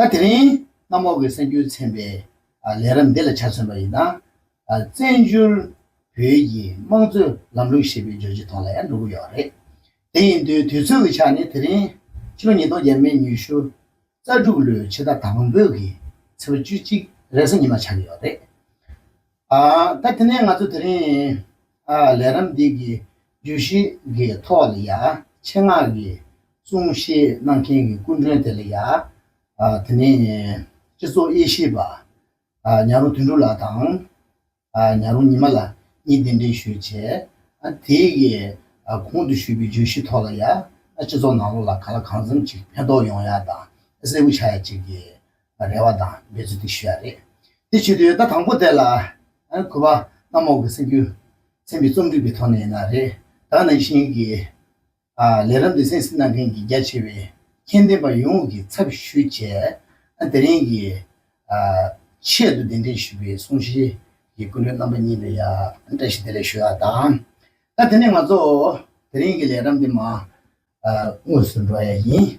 ད་དེ་རིང་གནམ་འོག་གི་སེམས་འགྱུར་ཚན་པའི་ལས་རབས་འདི་ལ་ཆ་མཚོན་པ་ཡིན་ན། བཙན་བྱོལ་བོད་ཀྱི་དམངས་གཙོའི་ལམ་ལུགས་ཞེས་པའི་རྗོད་བྱེད་ཐོག་ལ་ཡང་འགྲོ་གི་ཡོད་རེད། དེ་ཡིན་དུས་དུས་ཚོད་ཀྱི་ཆ་ནས་དེ་རིང་ཕྱི་ལོ་ཉིས་སྟོང་བརྒྱད་མའི་ཉི་ཤུ་རྩ་དྲུག་ལོའི་ཕྱི་ཟླ་དང་པོའི་གི་ཚེས་བཅུ་གཅིག་རེས་གཟའ་ཉི་མ་ཆགས་ཀྱི་ཡོད་རེད། ད་དེ་ནས་ང་ཚོ་དེ་རིང་ལས་རམས་འདི་གི་བརྗོད་གཞི་གི་ཐོག་ལ་ཡ་ཆེ་སྔགས་ཀྱི་གསུང་བཤད་གནང་མཁན་གྱི་སྐུ་མགྲོན་དེ་ལ་ཡ་དེ་ནས་སྤྱི་ཚོགས་དབྱེ་ཞིབ་པ་ཉག་རོང་དོན་གྲུབ་ལགས་དང་ཉག་རོང་ཉི་མ་ལགས་གཉིས་གདན་འདྲེན་ཞུས་བྱས། དེ་གི་གོང་དུ་ཞུས་པའི་བརྗོད་གཞི་ཐོག་ལ་ཡ་སྤྱི་ཚོགས་ནང་ལོགས་ལ་ག་ལ་གང་འཚམས་ཅིག་ཕན་ཐོགས་ཡོང་ཡ་དང་གསལ་བོ་ཆགས་ཡ་ཅིག་གི་རེ་བ་དང་འབད་རྩོལ་ཏིག་ཞུ་ཡག་རེད། དེ་བྱེད་དུ་ཡོད་ད་དང་པོ་དེ་ལ། གུས་པ། གནམ་འོག་གི་སེམས་རྒྱུད། མཚན་པའི་རྩོམ་སྒྲིག་པའི་ཐོག་ནས་ཡིན་ན་རེད། ད་ནང་བཞིན་གྱི། ལས་རབ་འདི་གསན་གཟིགས་གནང་མཁན་གྱི་རྒྱ་ཆེ་བའི། མཁྱེན་ལྡན་པ་ཡོངས་ཀྱི་ཚབ་ཞུ་བྱས། དེ་རིང་གི། ཆེད་དུ་གདན་འདྲེན་ཞུས་པའི་གསུང་བཤད། ཀྱི་སྐུ་མགྲོན་རྣམ་པ་གཉིས་ལ་ཡང། བཀྲ་ཤིས་བདེ་ལེགས་ཞུ་ཡག་དང། ད་དེ་ནས་ང་ཚོ། དེ་རིང་གི་ལས་རབ་འདི་མ། དངོས་སུ་འགྲོ་ཡ་ཡིན།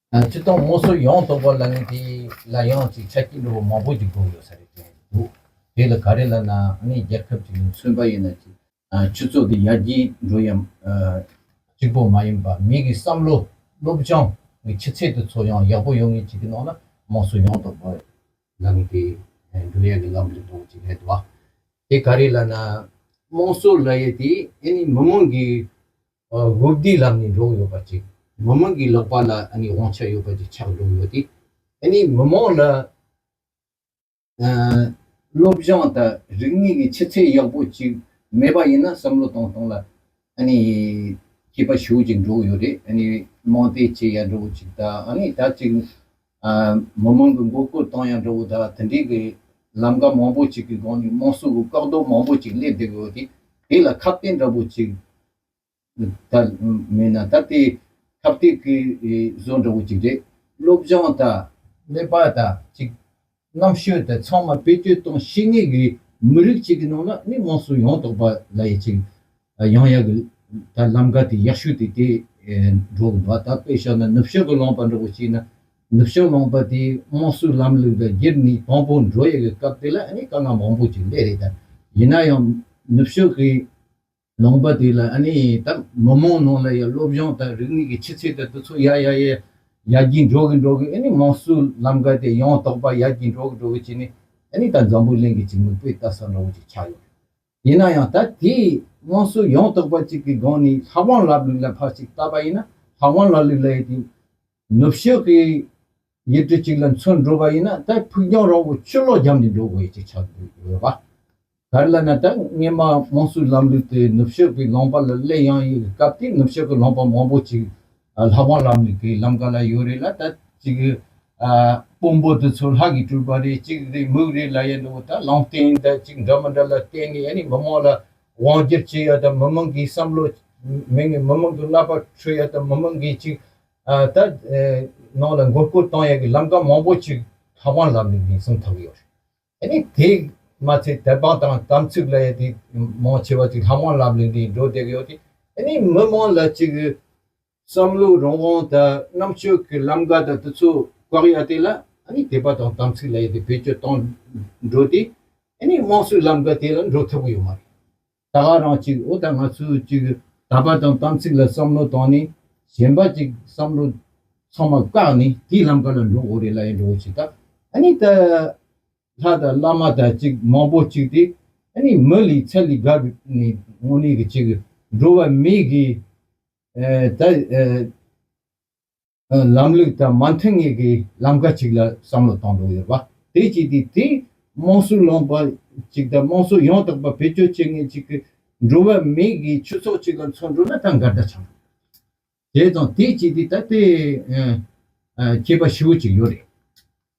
ཡང་སྤྱི་སྟོང་ངོ་སོ་ཡོངས་རྟོགས་པ་ལ་ནི་དེ་ལ་ཡང་ཅིག་ཆ་སྐྱེ་འགྲོ་བ་མང་པོ་ཅིག་འགྲོ་ཡོད་ས་རེད་དྲན་གྱི་འདུག་དེ་ལ་ག་རེ་ལ་ན་ནི་རྒྱལ་ཁབ་ཅིག་ནི་མཚོན་པ་ཡིན་ན་ཅིག་ཆུ་ཚོད་དེ་ཡར་རྒྱས་འགྲོ་ཡང་གཅིག་པོ་མ་ཡིན་པ་མིག་གི་བསམ་བློ་བློ་སྦྱང་གི་ཆུ་ཚད་དེ་ཚོ་ཡང་ཡག་པོ་ཡོང་ངེས་ཅིག་གི་ནང་ན་དམངས་སྲོལ་ཡོངས་རྟོགས་པ་ལ་ནི་དེ་འགྲོ་ཡག་གི་ལམ་དུ་འགྲོ་བ་ཅིག་རེད་དོ། དེ་ག་རེ་ལ་ན་དམངས་སྲོལ་ལ་ཡི་དེ་ཨེ་ནི་མི་མང་གི་དབུ་བདེའི་ལམ་ནས་འགྲོ་གི་ཡོད་པ་ཅིག་མི་མང་གི་ལག་པ་ལ་དབང་ཆ་ཡོད་པ་ཅིག་ཆགས་འགྲོ་གི་ཡོད་དེ། མི་མང་ལ་བློ་སྦྱང་དང་རིག་གནས་ཀྱི་ཆུ་ཚད་ཡག་པོ་ཅིག་མེད་པ་ཡིན་ན་བསམ་བློ་གཏོང་གཏོང་ལ་སྐྱིད་པ་ཞུ་གི་འགྲོ་གི་ཡོད་རེད། མང་སྟེ་བྱེད་ཡག་འགྲོ་གི་ཅིག་དང་ད་ཅིག་མི་མང་གི་མགོ་སྐོར་བཏང་ཡང་འགྲོ་འོས་ད་དེ་འདྲའི་གི་ལམ་ཀ་མང་པོ་ཅིག་གི་སྒང་ནས་དམངས་སྲོལ་གི་བཀག་རྡོ་མང་པོ་ཅིག་སླེབས་བསྡད་གི་འོས་ཏེ་དེ་ལ་ཁ་བརྟན་འདྲ་པོ་ཅིག་ད་མེད་ན་ད་དེ་ཁ་བརྟན་གི་བཟོ་འདྲ་པོ་ཅིག་རེད་སློབ་སྦྱང་ད། ཀླད་པ་ད་ཅིག་གནམ་ཤོད་དེ་ཚང་མ་བེད་སྤྱོད་གཏོང་ཤེས་ངེས་ཀྱི་མི་རིགས་གཅིག་གི་ནང་ལ་མི་དམངས་སུ་ཡོང་དོགས་པ་ལ་ཡི་ཆིག་ཡང་ཡག་གི་ད་ལམ་ག་དེ་ཡག་ཤོས་དེ་དེ་འགྲོ་གི་འདུག་ད་དཔེ་ཤོར་ན་ནུབ་ཕྱོགས་ཀྱི་ལོང་པ་འདྲ་བོ་ཞིག་ན་ནུབ་ཕྱོགས་ལོང་པ་དེ་དམངས་སྲོལ་ལམ་ལུགས་ལ་སྒེར་ནས་དང་པོ་འགྲོ་ཡག་གི་སྐབས་དེ་ལ་ནི་དཀའ་ངལ་མང་པོ་ཅིག་སླེ་རེད་ད་ཡིན་ན་ཡང་ནུབ་ཕྱོགས་ཀྱི། ལུང་པ་དེ་ལ་ཨ་ནི་ད་མི་མང་ནང་ལ་ཡ་སློབ་སྦྱོང་དང་རིག་གནས་ཀྱི་ཆུ་ཚད་དེ་དུས་ཚོད་ཡ་ཡ་ཡ་ཡ་ཡ་གྱིས་འགྲོ་གི་འགྲོ་གི་ཨ་ནི་དམངས་སྲོལ་ལམ་ཀ་དེ་ཡང་དག་པ་ཡ་གྱིས་འགྲོ་གི་འགྲོ་གི་བྱས་ནས་ཨ་ནི་ད་འཛམ་བུ་གླིང་གི་ཅིག་མི་དཔེ་ལྟ་ས་འདྲ་བོ་ཅིག་ཆགས་ཡོད་རེད། ཡིན་ན་ཡང་ད་དེས་དམངས་སྲོལ་ཡང་དག་པ་ཅིག་གི་སྒང་ནས་ལྷ་དབང་ལབ་ལུགས་ལ་ཕར་ཅིག་བལྟ་པ་ཡིན་ན་ལྷ་དབང་ལབ་ལུགས་ལ་ཡི་དེ། ནུབ་ཕྱོགས་ཀྱི་ཡུལ་གྲུ་གཅིག་ལ་མཚོན་འགྲོ་བ་ཡིན་ན་ད་ཕུགས་རྒྱང་རིང་བོ་ཆུ་ལོག་རྒྱང་གིས་འགྲོ་དགོས་ཀྱི་ཆགས་ཡོད་པ། ག་ལ་ན་ད་སྔས་མ་དམངས་གཙོའི་ལམ་ལུགས་དེ་ནུབ་ཕྱོགས་ཀྱི་ལུང་པ་ལ་སླེབས་ཡང་ཡོད་པའི་སྐབས་དེ་ནུབ་ཕྱོགས་ཀྱི་ལུང་པ་མང་པོ་ཅིག་ལྷ་བང་ལམ་ནས་ཀྱི་ལམ་ག་ལ་ཡོད་རེད་ལ་ད་ཅིག་དཔོན་པོ་དེ་ཚོ་ལྷ་གིས་སྤྲུལ་པ་རེད་ཅིག་རེད་མུག་རེད་ལ་ཡང་འདུག་ད་ལུང་བསྟན་ད་ཅིག་འདྲ་མི་འདྲ་ལ་བརྟེན་ནས་ཡ་ནི་མི་དམངས་ལ་དབང་སྒྱུར་བྱེད་ཡ་ད་མི་དམངས་ཀྱི་བསམ་བློ་མི་དམངས་ཀྱི་རྣ་པར་འཕྲོད་ཡ་ད་མི་དམངས་ཀྱིས་ཅིག་ད་ནང་ལ་མགོ་སྐོར་གཏོང་ཡས་ཀྱི་ལམ་ཀ་མང་པོ་ཅིག་ཁ་བ་ལམ་ནས་མིང་སྲུང་ཐུབ་ཀྱི་ཡོད་རེད། དེ་ནས་དེ་མ་ཚད་དལ་འབངས་དང་དམ་ཚིག་ལ་ཡས་དེ་མང་ཆེ་བ་ཅིག་ལྷ་མང་ལམ་ལས་འདི་འགྲོ་བསྡད་ཀྱི་ཡོད་དེ། དེ་ནས་མི་མང་ལ་ཅིག་བསམ་བློ་རང་དབང་དང་རྣམ་དཔྱོད་ཀྱི་ལམ་ཀ་དང་དུ་ཚོད་བཀག་ཡས་དེ་ལ་དད་པ་དང་དམ་ཚིག་ལ་ཡས་དེ་བེད་སྤྱོད་གཏོང་འགྲོ་དེ། དེ་ནས་དམངས་སྲོལ་ལམ་ཀ་དེ་ལ་འགྲོ་ཐུབ་ཀྱི་ཡོད་མ་རེད། ད་ག་རང་གཅིག་ཨོ་ད་ང་ཚོས་གཅིག་དག་པ་དང་དམ་ཚིག་ལ་བསམ་བློ་བཏང་ནས་གཞན་པ་གཅིག་བསམ་བློ་ཚང་མ་བཀག་ནས་དེའི་ལམ་ག་ལ་འགྲོ་འོ་རེད་ལ་ཡང་འགྲོ་འོ་བྱེད་ད་ནི་ད་ལྷ་དང་བླ་མ་དང་གཅིག་མང་པོ་གཅིག་དེ་ནི་མི་ལི་ཚ་ལི་ག་རུ་ནི་ངོ་ནི་གཅིག་འགྲོ་བ་མི་གི་ད། ལམ་ལུགས་དང་མ་མཐུན་ངེས་ཀྱི་ལམ་ཁ་ཅིག་ལ་བསམ་བློ་གཏོང་འདོད་ཡོད་པ་དེ་བཅས་ཀྱི་དེའི་དམངས་སྲོལ་ལོངས་པ་ཅིག་དང་དམངས་སྲོལ་ཡང་དག་པ་བེད་སྤྱོད་བྱེད་མཁན་ཅིག་གི་འགྲོ་བ་མིའི་གི་ཁྱུ་ཚོགས་ཅིག་ལ་མཚོན་འགྲོ་ན་ད་འགར་ད་ཆང་དེ་དང་དེ་བཅས་ཀྱི་ད་དེ་ཁྱད་པ་ཧྲིལ་བོ་ཅིག་ཡོད་རེད།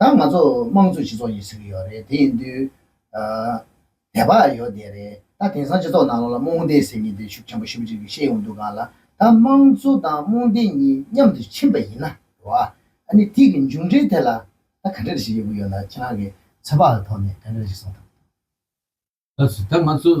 ད་ང་ཚོ་དམངས་གཙོའི་སྤྱི་ཚོགས་ཀྱི་ཟེར་གྱི་ཡོད་རེད་དེ་ཡིན་དུས། དད་པ་ཡོད་དེ་རེད་ད་དེང་སང་སྤྱི་ཚོགས་ནང་ལོག་ལ་རྨོངས་དད་ཟེར་གྱི་དེ་ཤུགས་ཆེན་པོ་ཞིབ་ཅིག་གིས་ཤེས་ཡོང་དུས་གང་ལ་ད་དམངས་གཙོ་དང་རྨོངས་དད་གཉིས་མཉམ་དུ་ཕྱིན་པ་ཡིན་ན་རོ། ཨ་ནི་དེ་གི་མཇུག་འབྲས་དེ་ལ་ད་ག་འདྲེ་རེ་ཞིག་ཡོད་གི་ཡོད་ན་ཁྱེད་རང་གི་ཚོད་དཔག་གི་ཐོག་ནས་ག་འདྲེ་རེ་ཞིག་གསུང་ཐུབ། ཨ་ཙི་ད་ང་ཚོ་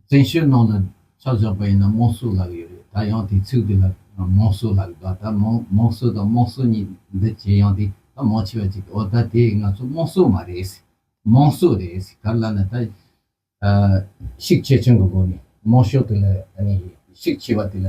བཙན་བྱོལ་ནང་ལ་ཆ་བཞག་པ་ཡིན་ན་དམངས་སྲོལ་ལགས་ཡོད་རེད་ད་ཡང་དེ་ཚིག་དེ་ལ་དམངས་སྲོལ་ལགས་གདའ་ད་དམངས་སྲོལ་དང་དམངས་སྲོལ་གཉིས་འདི་བྱེད་ཡང་དེ་ད་མང་ཆེ་བ་ཅིག་ཨོ་ད་དེ་ང་ཚོ་དམངས་སྲོལ་མ་རེད་ཟེར་དམངས་སྲོལ་རེད་ཟེར་ག་ལ་ན་ད་ཤིག་ཆེ་ཆུང་གི་སྒོ་ནས་དམངས་སྲོལ་དེ་ལ་ཡང་ནི་ཤིག་ཆེ་བ་དེ་ལ།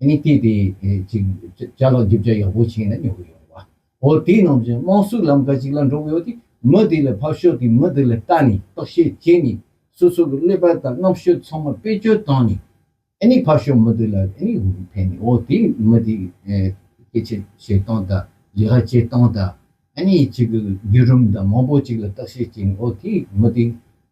གཉིས་སྐྱེས་དེ་ཅིག་ཅར་ལ་འཇིབ་ཆ་ཡག་པོ་བྱིན་ན་ཉོ་གི་ཡོད། བ་ཧོ་དེ་རྣམས་ཀྱི་དམངས་སྲོལ་ལམ་ཀ་ཅིག་ལ་འགྲོ་གི་ཡོད་དེ། མི་དེ་ལ་ཕབ་ཤོག་དེ་མི་དེ་ལ་བལྟ་ནས་བརྟག་དཔྱད་བྱས་ནས་སོ་སོ་གི་ཀླད་པ་དང་རྣམ་དཔྱོད་ཚང་མ་བེད་སྤྱོད་བཏང་ནས་ཨེ་ཕབ་ཤོག་མི་དེ་ལ་ཨེ་ཕན་ནས་ཨོ་དེ་མི་དེ་སྐད་ཆ་བཤད་སྟངས་དང་ལས་ཀ་བྱེད་སྟངས་དང་ཨེ་ཅིག་གི་བརྒྱུད་རིམ་དང་མང་པོ་ཅིག་ལ་བརྟག་དཔྱད་བྱས་ནས་ཨོ་དེ་མི་དེ་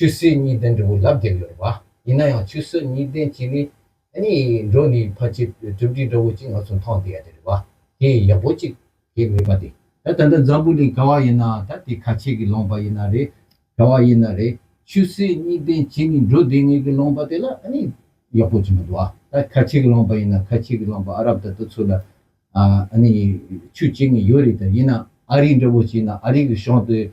ཆུ་སྲིན་གཉིས་ལྡན་འབྲས་བུ་ལྷ་བརྒྱད་ཡོད་པ། ཡིན་ན་ཡང་ཆུ་སྲིན་གཉིས་ལྡན་གྱི་ནི། གཉིས་འགྲོ་ནི་ཕ་ཆེ་གྲུབ་ཀྱི་འདྲ་བོ་གཅིག་ང་ཚོ་མཐོང་དེ་ཡ་དེ་རེད་བ། དེ་ཡག་པོ་གཅིག་གི་མིན་པ་དེ། ད་ད་འདི་འཛམ་བུ་ལས་ག་བ་ཡིན་ན་ད་དེ་ཁ་ཆེ་གི་ལོང་པ་ཡིན་ན་རེད། ག་བ་ཡིན་ན་རེད། ཆུ་སྲིན་གཉིས་ལྡན་གྱི་ནི་འགྲོ་དེ་ངེས་གི་ལོང་པ་དེ་ལ་ནི་ཡག་པོ་གཅིག་མི་འདུག་བ། ད་ཁ་ཆེ་གི་ལོང་པ་ཡིན་ན་ཁ་ཆེ་གི་ལོང་པ་ཨ་རབ་ད་དུ་ཚུར་ལ་ཨ་ནི་ཆུ་གཅིག་ནི་ཡོད་རེད་ད་ཡིན་ན་ཨ་རིའི་འདྲ་བོ་གཅིག་ཡིན་ན་ཨ་རིའི་གི་གཞོང་དེ།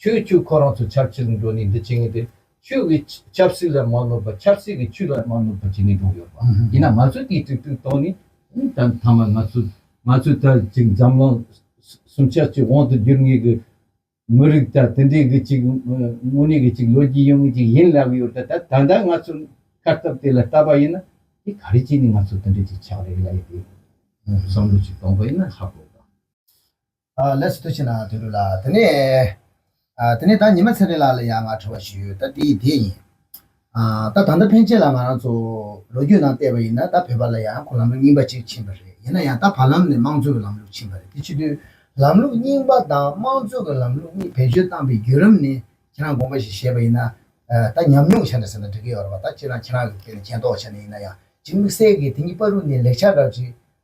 ཁྱོད་ཁྱོད་ཁོ་རང་ཚོ་ཆབ་སྲིད་ལ་འགྲོ་ནས་འདི་བྱེད་ངེས་ཏེ། ཁྱོད་ཀྱིས་ཆབ་སྲིད་ལ་མ་ནོར་པར་ཆབ་སྲིད་ཀྱིས་ཁྱོད་ལ་མ་ནོར་པར་བྱས་ནས་འགྲོ་གི་ཡོད་པ། ཡིན་ན་ང་ཚོས་དེའི་ཐུགས་ཁུར་བཏང་ནས། མཐའ་མ་ང་ཚོ་ང་ཚོའི་ད་ཅིག་འཛམ་གླིང་སུམ་ཆ་གཅིག་དབང་དུ་བསྒྱུར་ངེས་ཀྱི་མི་རིགས་ད་དེ་འདྲའི་གི་ཅིག་དངོས་གནས་གི་ཅིག་ལོ་རྒྱུས་ཡོད་ངེས་ཅིག་ཡིན་ལབ་ཡོད་ད་ད་ལྟ་ང་ཚོ་ཁ་སྟབས་དེ་ལ་བལྟ་པ་ཡིན་ན། དེ་ག་རེ་བྱས་ནས་ང་ཚོ་དེ་འདྲའི་ཅིག་ཆགས་རེ་ལ་ཡོད་དེ། བསམ་བློ་ཅིག་གཏོང་པ་ཡིན་ན་ཧ་གོ་དང། ལས་སུ་གཏོད་བྱེད་ནའང་དོན་འགྲུབ་ལ། དེ་ནས། དེ་ནས་ད་ཉི་མ་ཚེ་རིང་ལགས་ལ་ཡང་ང་ཁྲོ་བ་ཞིག་ཡོད་ད་དེ་ཡི་དེ་ཡིན། ད་ད་ལྟ་ཕན་ཆད་ལ་ང་རང་ཚོ་ལོ་རྒྱུས་ནང་བལྟས་པ་ཡིན་ན་ད་བོད་པ་ལ་ཡང་ཁོ་ལམ་ལུགས་རྙིང་པ་གཅིག་ཕྱིན་པ་རེད་ཡིན་ན་ཡང་ད་བར་ལམ་ནས་དམངས་གཙོ་གི་ལམ་ལུགས་ཕྱིན་པ་རེད་དེ་ཕྱི་དོན། ལམ་ལུགས་རྙིང་པ་དང་དམངས་གཙོ་གི་ལམ་ལུགས་གཉིས་བེད་སྤྱོད་བཏང་པའི་བརྒྱུད་རམ་ནི་ཁྱེད་རང་དགོངས་པ་ཞིག་བཞེས་པ་ཡིན་ན། ད་ཉམས་མྱོང་བྱ་འདྲ་ཟེར་ན་འགྲིག་གི་ཡོད་རེད་བ་ད་ཁྱེད་རང་ཁྱེད་རང་གི་ཐད་ནས་མཁྱེན་རྟོགས་བྱས་ནས་ཡིན་ན་ཡང་གཅིག་དམིགས་བསལ་གྱིས་དེ་གཉིས་པ་རུ་ནི་ལེགས་ཆ་རག་ཅིག།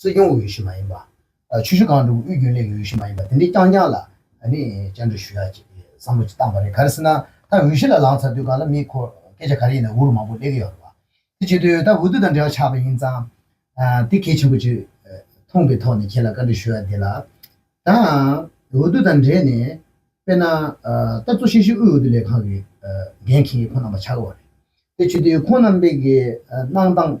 སྲིད་སྐྱོང་འོས་གཞི་མ་ཡིན་པ། ཆུ་ཤུར་གངས་འབྲུག་དབུས་རྒྱུན་ལས་ཀྱི་འོས་གཞི་མ་ཡིན་པ་དེ་འདྲའི་རྐྱང་རྐྱང་ལ་བཅར་འདྲི་ཞུ་ཡག་ཅེས་བསམ་བློ་བཏང་བ་རེད་ག་རེ་སྲིད་ན་ད་འོས་གཞི་ལ་ལངས་ཚར་དུས་སྒང་ལ་མིའི་འཁོར་སྐད་ཆ་ག་རེ་ཡིན་ན་འུ་རུ་མང་པོ་ལས་ཀི་ཡོག་རེད་བ། དེ་བྱེད་དུས་ད་འོས་བསྡུ་དང་འབྲེལ་བ་ཆགས་པ་ཡིན་ཙང། དེ་གལ་ཆེན་པོ་ཅིག་མཐོང་པའི་ཐོག་ནས་ཁྱེད་ལ་བཀའ་འདྲི་ཞུ་ཡག་འདི་ལ། ད་འོས་བསྡུ་དང་འབྲེལ་ནས་དཔེར་ན་ད་གཙོ་ཤེས་ཤིག་དབུས་འོས་བསྡུ་ལས་ཁང་གི་འགན་འཁྱེར་མཁན་ཁོང་རྣམ་པ་ཆགས་ཀི་བ་རེད་དེ་བྱེད་དུས་ཁོང་རྣམ་པས་ཀི་གནང་སྟངས་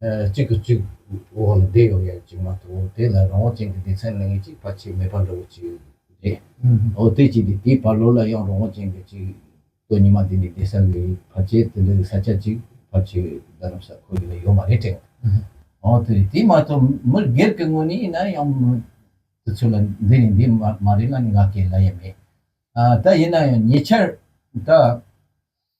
གཅིག་གིས་གཅིག་འོག་ལ་བསྡད་ཡོང་ཡག་ཅིག་མ་གཏོགས་དེ་ལ་རང་དབང་ཅན་གྱི་སྡེ་ཚན་ལ་ངེས་ཅིག་བར་ཆད་མེད་པ་འདྲ་བོ་ཅིག་རེད། འོ་དེ་ཅིག་དེ་དེའི་བར་ལོ་ལ་ཡང་རང་དབང་ཅན་གྱི་ཅིག་སྟོད་ཉི་མ་དེ་ནས་བསྡད་ས་གི་བར་ཆད་དེ་འདྲ་གི་ས་ཆ་ཅིག་བར་ཆད་རྡ་རམ་ས་ཁོ་ཡི་ལ་ཡོད་མ་རེད་དྲན་འོ་དེ་རེད་དེ་མ་གཏོགས་མི་སྒེར་གྱི་དངོས་གནས་ཡིན་ན་ཡང་དུས་ཚོད་ལ་འདི་རེད་འདི་མ་རེད་ལ་ནི་ང་ཁས་ལ་ཡ་མེད་ད་ཡིན་ན་ཡང་ཉེ་ཆར་ད།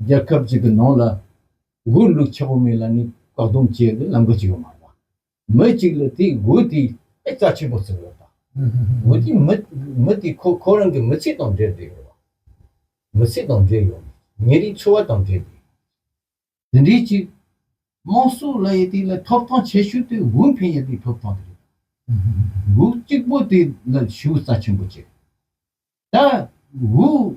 རྒྱལ་ཁབ་ཅིག་གི་ནང་ལ་སྒོས་ལུག་ཆ་པོ་མེད་ལ་ནི་བཀག་སྡོམ་བྱེད་དུ་ལམ་གོ་ཅིག་ཡོད་མ་རེད་པ། མི་ཅིག་ལ་དེའི་སྒོས་དེའི་ཨེ་རྩ་ཆེན་པོ་བརྩིགས་ཡོད་པ། སྒོས་དེའི་མི་མི་དེ་ཁོ་ཁོ་རང་གི་མི་ཚེ་དང་འབྲེལ་འདྲེས་ཡོད་པ། མི་ཚེ་དང་འབྲེལ་ཡོད་ཉིན་རེའི་འཚོ་བ་དང་འབྲེལ་འདྲེས་ཡོད་པ། དེ་འདྲའི་ཅིག་དམངས་སྲོལ་ལ་ཡི་དེ་ལ་ཐོབ་ཐང་བྱེད་ཤུགས་དེ་སྒོས་འཕེན་ཡི་དེའི་ཐོབ་ཐང་དེ་རེད་པ། སྒོས་གཅིག་པོ་དེ་ལ་ཞུ་རྩ་ཆེན་པོ་བྱེད་དེ་སྒོས།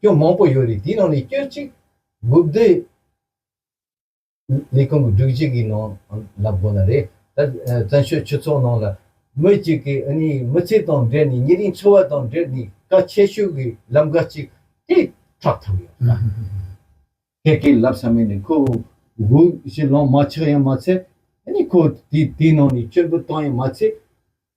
སྐྱོན་མང་པོ་ཡོད་རེད་དེའི་ནང་ནས་སྐྱོན་གཅིག། དགུ་བདེ། ལས་ཁུངས་ཀྱི་སྒྲིག་གཞི་གི་ནང་ལ་དགོས་ན་རེད། ད། བཙན་བྱོལ་སྤྱི་ཚོགས་ནང་ལ། མི་གཅིག་གིས་ཨ་ནི་མི་ཚེ་དང་འབྲེལ་ནས་ཉེ་རིང་འཚོ་བ་དང་འབྲེལ་ནས་ཀ་ཆེ་ཤོས་ཀྱི་ལམ་ཀ་གཅིག་དེ་ཁྲག་ཐག་ཡོད་ན། ཁྱེད་ཀྱིས་ལབ་ས་མེད་ནས་ཁོ་བོ་དགུ་བཞི་ལོང་མ་ཆགས་ཡང་མ་ཚད། ཨ་ནི་ཁོ་བོ་དེའི་ནང་ནས་སྐྱོན་དགུ་བཏང་ཡང་མ་ཚད།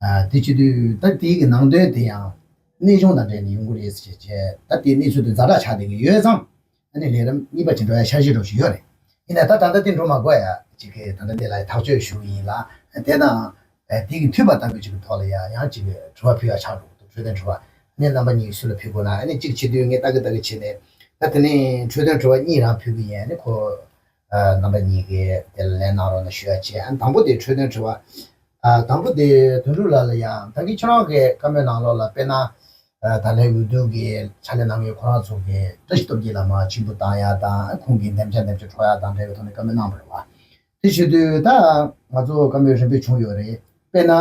དེ་བྱེད་དུས་ད་ལྟའི་གི་ནང་དོན་དེ་ཡང་གནས་གཞུང་དང་འབྲེལ་ནས་ཡོང་གི་རེད་ཟེར་བྱས་བྱས་ད་ལྟའི་གནས་ཚུལ་དུ་འཛའ་དྲག་ཆགས་བསྡད་ཀྱི་ཡོད་ཙང་ཨ་ནི་ལས་རིམ་གཉིས་པ་བྱེད་འགྲོ་ཡ་འཆར་གཞི་འགྲོ་བཞིན་ཡོད་རེད་ཡིན་ནའི་ད་ད་ལྟ་དེ་འགྲོ་མ་དགོས་ཡ་ཅིག་གིས་ད་ལྟ་འདི་ལ་ཐག་གཅོད་ཞུ་གི་ཡིན་ལ་དེ་དང་དེ་གི་མཐུད་པ་ལྟ་བུ་ཅིག་གི་ཐོག་ལ་ཡ་ཡང་ཅིག་དྲི་བ་ཕུལ་ཡ་ཆགས་འགྲོ་གི་འདུག་འཕྲོས་དོན་དྲི་བ་ཨ་ནི་རྣམ་པ་གཉིས་སུ་ལ་ཕུལ་དགོས་ན་ཨ་ནི་གཅིག་བྱེད་དུས་ངས་ལྟ་གི་ལྟ་གི་བྱས་ནས་ད་དེ་ནས་འཕྲོས་དོན་དྲི་བ་གཉིས་རང་ཕུལ་གི་ཡིན་ཨ་ནི་ཁོ་རྣམ་པ་གཉིས་ཀའི་དེ་ལ་ལན་གནང་རོགས་གནང་ཞུ་བྱས། དང་པོ་དེ་འཕྲོས་དོན་དྲི་བ། དང་པོ་དེ་དོན་དྲུག་ལ་ལ་ཡང་ད་གིན་ཁྱོད་རང་གི་བཀའ་མོལ་ནང་ལོགས་ལ་དཔེར་ན། ད་ལའི་འོས་བསྡུ་གི་ཕྱག་ལས་གནང་མཁན་ཁོ་རང་ཚོ་གི་བཀྲ་ཤིས་སྟོབས་རྒྱལ་ལ་མ་ཕྱིར་འབུད་བཏང་ཡག་དང་ཁོང་གི་འདེམས་བྱ་འདེམས་བྱ་འཕྲོག་ཡག་དང་འབྲེལ་བའི་ཐོག་ནས་བཀའ་མོལ་གནང་པ་རེད་བ། དེ་བྱེད་དུས་ད་ང་ཚོ་བཀའ་མོལ་རིམ་པས་བྱུང་ཡོད་རེད་དཔེར་ན།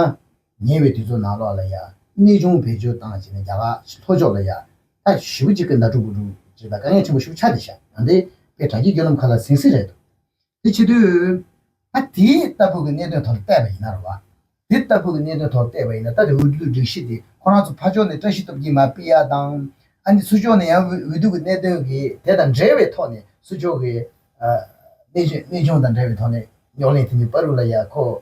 ཉེ་བའི་དུས་ཚོད་ནང་ལོགས་ལ་ཡང་གནས་ཆུང་བེད་སྤྱོད་བཏང་བྱས་ནས་རྒྱ་གར་གྱི་ལྷོ་ཕྱོགས་ལ་ཡང་ད་ཞི་བུ་གཅིག་གི་མདའ་དྲུག་བུ་དྲུག་བྱས་པ་དཀའ་ངལ་ཆེན་པོ་ཤུགས་ཆག་དེ་ཤ་ནང་དེ་པའི་དྲ་རྒྱའི་སྐྱོ་ལམ་ཁ་ལ་ཟིང་ཟིང་རེད་འདུག་དེ་ཕྱི་དུས། ད་དེ་ལྟ་བུ་གི་གནད་དོན་ཐོག་ལ་བལྟས་པ་ཡིན་ན་རེད་བ། དེ་ལྟ་བུ་གི་གནད་དོན་ཐོག་ལ་བལྟས་པ་ཡིན་ན་ད་དེ་འོས་བསྡུའི་སྒྲིག་གཞི་དེ་ཁོ་རང་ཚོ་ཕ་ཕྱོགས་ནས་བཀྲ་ཤིས་སྟོབས་ཀྱིས་མ་སྤེལ་ཡ་དང། ཨ་ནི་སུ་ཕྱོགས་ནས་ཡང་འོས་བསྡུ་གི་གནད་དོན་གི་དེ་དང་འབྲེལ་བའི་ཐོག་ནས་སུ་ཕྱོགས་ཀྱི། གནས་ཆུང་དང་འབྲེལ་བའི་ཐོག་ནས་རྙོག་གླེང་དེ་ནི་པ་རུ་ལ་ཡ་ཁོ།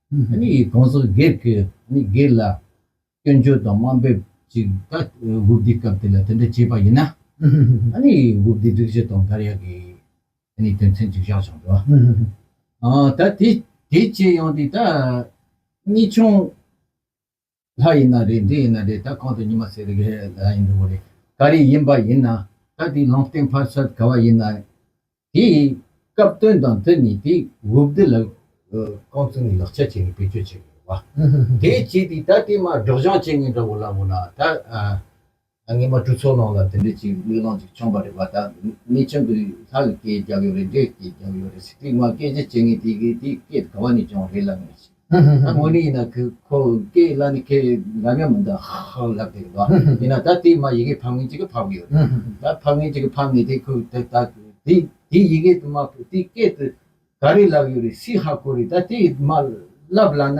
གོང་ས་སྒེར་གྱི་སྒེར་ལ་སྐྱོན་བརྗོད་དང་དམའ་འབེབས་ཅིག་ད་དགུ་བསྡུས་སྐབས་དེ་ལ་དེ་འདྲ་བྱས་པ་ཡིན་ན། དགུ་བསྡུས་སྒྲིག་གཞི་དང་འགལ་ཡག་གི་དོན་ཚན་གཅིག་བཞག་བྱུང་འགྲོ། ད་དེ་བྱས་ཡོང་དུས་ད་གཉིས་ཆུང། ལྷ་ཡིན་ན་རེད་འདི་ཡིན་ན་རེད་ད་གང་དུ་ཉི་མ་ཟེར་རེད་གཞན་ལྷ་ཡིན་འགྲོ་གི་རེད་ག་རེ་ཡིན་པ་ཡིན་ན་ད་དེ་ལུང་བསྟན་ཕར་ཚད་ག་བ་ཡིན་ན་དེ་སྐབས་དོན་དང་དེ་ནི་དེ་འུ་བདེ་ལ་རྐང་བཙུགས་ནས་ལག་ཆ་བྱས་ནས་བེད་སྤྱོད་བྱས་ཡོད་རེད་བ། དེ་བྱས་དེ་ད་དེ་མ་སྒྲོག་སྦྱང་བྱས་ངེས་འདྲ་བོ་ལ་འོ་ན་ད། སྔོན་མ་གྲུ་ཚོགས་ནང་ལ་དེ་འདྲའི་ཅིག་གླུད་ལང་ཅིག་འཁྱོངས་པ་རེད་པ་ད་མི་ཆེན་པོས་ལྷ་ལ་སྐད་རྒྱག་ཡོད་རེད་འདྲེ་སྐད་རྒྱག་ཡོད་རེད་ཟེར་དུས་ང་སྐད་ཆ་བྱེད་ངེས་དེ་གི་དེ་སྐད་ག་བ་ནས་བྱུང་རེད་ལབ་ངེས་ད་དངོས་གནས་ཡིན་ན་གི་ཁོ་སྐད་གླ་ནི་ཁས་ལབ་ཡ་མི་འདུག་ཧ་ཧ་ཧ་ལབ་དེ་རེད་བ་ཡིན་ན་ད་དེ་མ་ཡི་གེ་ཕབ་ངེས་ཅིག་གི་ཕབ་གི་ཡོད་རེད་ད་ཕབ་ངེས་ཅིག་གི་ཕབ་ངེས་དེ་ཁོས་དེ་ད་དེ་དེ་ཡི་གེ་དེ་མ་ཕུ་དེ་སྐད་དེ་ག་རེ་ལབ་ཡོད་རེད་སི་ཧ་གོ་རེད་ད་དེ་མ་ལབ་ལ་ན་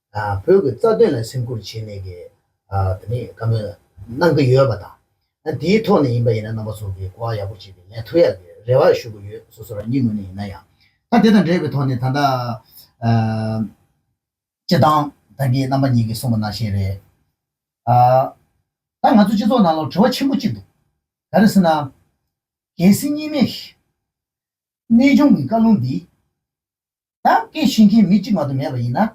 བོད་ཀྱི་རྩ་དོན་ལ་སེམས་ཁུར་བྱས་ནས་ཀྱི་དེ་ནི་བཀའ་མོལ་གནང་གི་ཡོད་པ་དང། དེའི་ཐོག་ནས་ཡིན་པ་ཡིན་ན་རྣམ་པ་ཚོ་གི་གོ་བ་ཡག་པོ་བྱེད་པའི་ལན་ཐོབ་ཡག་གི་རེ་བ་ཞུ་གི་ཡོད་སོ་སོ་རང་ཉིད་ངོས་ནས་ཡིན་ན་ཡང། ད་དེ་དང་འབྲེལ་བའི་ཐོག་ནས་ད་ལྟ་སྤྱི་བཏང་ད་གི་རྣམ་པ་གཉིས་ཀྱི་གསུངས་པ་ནང་བཞིན་རེད། ད་ང་ཚོ་སྤྱི་ཚོགས་ནང་ལོ་དྲི་བ་ཆེན་པོ་གཅིག་འདུག་ག་རེ་ཟེར་ན། རྒྱལ་སྲིད་གཉིས་མེད་གནས་སྦྱོང་གི་བཀའ་ལུང་འདི། ད་སྐད་བཤད་མཁན་མི་གཅིག་མ་གཏོགས་མེད་པ་ཡིན་ན།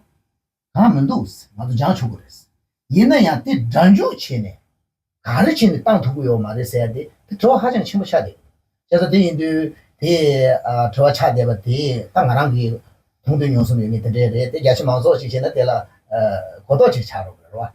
གང་མི་འདུག་ང་ཚོ་སྦྱང་ཆོག་གི་རེད། ཡིན་ན་ཡང་དེ་སྒྲ་འཇུག་བྱས་ནས། ག་རེ་བྱས་ནས་བཏང་ཐུབ་ཀྱི་ཡོད་མ་རེད་ཟེར་ཡ་དེ་དེ་དྲི་བ་ཧ་ཅང་ཆེན་པོ་ཆགས་བསྡད། བྱས་ཙང་དེ་ཡིན་དུས་དེ། དྲི་བ་ཆགས་བསྡད་པ་དེ་ད་ང་རང་གིས། མཐོང་ཐོས་མྱོང་གསུམ་ཡོད་མེད་དེ་འདྲའི་རེད་དེ་རྒྱ་ཆེ་མང་ཚོགས་ཅིག་བྱས་ན་དེ་ལ། གོ་རྟོགས་ཅིག་ཆགས་རོགས་གནང་རོགས།